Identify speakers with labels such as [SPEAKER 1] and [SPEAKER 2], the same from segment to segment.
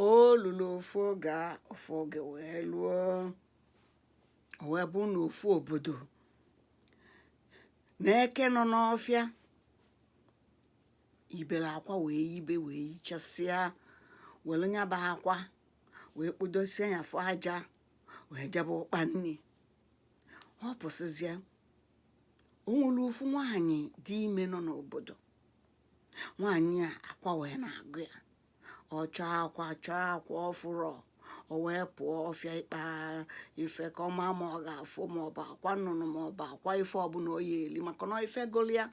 [SPEAKER 1] o lulu ofu oge a ofu oge wee luo o wee bụ na ofu obodo na eke nọ n'ọfịa ibere akwa wee yibe wee yichasịa were nya bụ akwa wee kpodosie ya afụ aja wee jebe ịkpa nni ọ pụsịzịa o nwere ofu nwaanyị dị ime nọ n'obodo nwaanyị a akwa wee na-agụ ya ọ chọọ akwa chọọ akwa ọ fụrọ o wee pụọ ọfịa ịkpa ife ka ọ maa ma ọ ga-afụ ma ọ bụ akwa nnụnụ ma ọ bụ akwa ife ọbụla ọ ya-eli maka na ife gụlụ ya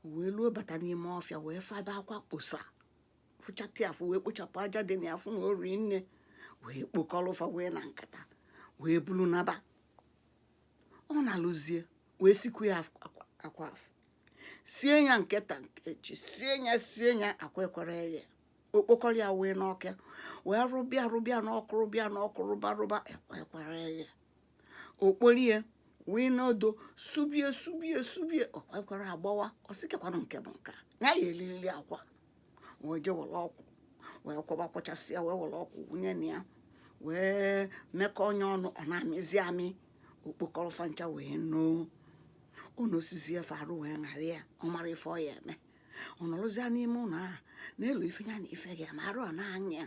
[SPEAKER 1] o wee luo bata n'ime ọfịa wee fụ ebe akwa kposa fụchata ya afụ wee kpochapụ aja dị na ya fụ na o rie nne wee kpokọrọ fa wee na nkata wee bulu naba ọ naluzie wee sikwu ya akwa akwa afụ sie ya nke taa echi sie ya sie ya akwa ekwerọ eghe o kpokọrọ ya wee n'ọkụ wee rụba ya rụba ya n'ọkụ rụba ya n'ọkụ rụba rụba akwa ekwerọ eghe o kporo ya wee n'odo sụba ya sụba ya sụba ya akwa ekwerọ agbawa ọ sị kee kwanụ nke bụ nke a na ya elili akwa wee je were ọkwụ wee kwọba kwọchasịa wee were ọkwụ wụnye na ya wee mekọnye ọnụ ọ na-amịzi amị o kpokọrọ fa ncha wee noo o nosizie fa arụ wee ṅara ya ọ marọ ife ọ ya-eme ọ nọrọzia n'ime ụlọ ahụ na-elo ife ya no ife ga-eme arụ ọ na-aṅa ya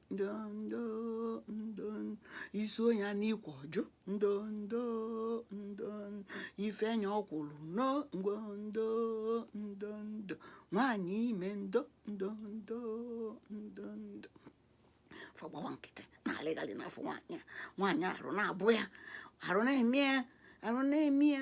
[SPEAKER 1] ndondo ndo ị sụọ nya n'ikwe ọ jụ ndondo ndo i fie nya ọkwụrụ noo ndo ndo ndo ndo nwaanyị ime ndo ndo ndo ndo ndo fa agbawa nkịtị na-alịghalị n'afọ nwaanyị a nwaanyị arụ na-abụ ya arụ na-eme ya arụ na-eme ya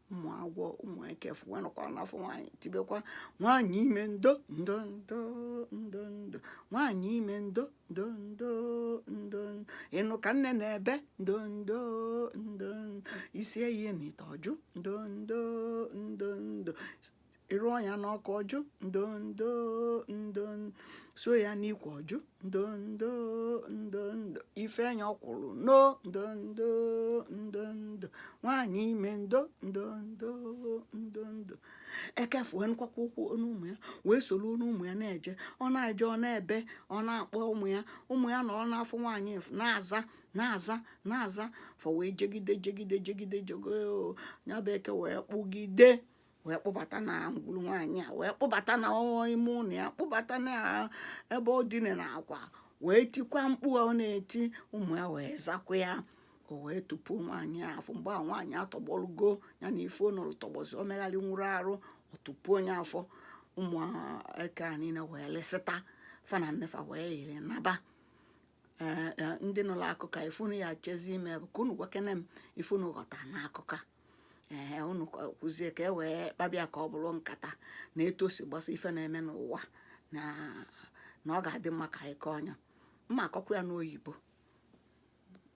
[SPEAKER 1] ụmụ agwọ ụmụ ekefu wee nọkwa n'afọ nwaanyị tibekwa nwaanyị ime ndo ndo ndo ndo ndo nwaanyị ime ndo ndo ndo ndo ịnụ ka nne na-ebe ndo ndo ndo isi eyi na ite ọjụ ndo ndo ndo ndo ị rụọ ya n'ọkụ ọ jụ ndondo ndo sụọ ya n'ikwe ọ jụ ndondo ndo ndo i fie nya ọkwụrụ noo ndondo ndo ndo nwaanyị ime ndo ndondo ndo ndo eke afụ wee nụkwakwa ụkwụ onu ụmụ ya wee soro onu ụmụ ya na-eje ọ na-eje ọ na-ebe ọ na-akpọ ụmụ ya ụmụ ya nọrọ n'afọ nwaanyị na-aza na-aza na-aza fa wee jegide jegide jegide jego ya bụ eke wee kpụgide wee kpụbata na ngwuru nwaanyị a wee kpụbata na ime ụlọ ya kpụbata na ebe ọ dine na akwa wee tikwa mkpu ọ na-eti ụmụ ya wee zakwa ya o wee tupu nwaanyị a afọ mgbe a nwaanyị atọgbọlugo ya na ife o nolu tọgbọzi o megharịnwurọ arụ o tupu nya afọ ụmụ eke a niile wee lịsịta fa na nne fa wee yiri naba ee ndị nụrụ akụkọ ife unu ya chezi ime bụ ka unu gwakene m ife unu ghọta n'akụkọ ee unu kwuzie ka e wee kpabịa ka ọ bụrụ nkata na etu o si gbasa ife na-eme n'ụwa na na ọ ga-adị mma ka anyị kọọ ya ma akọkwa ya n'oyibo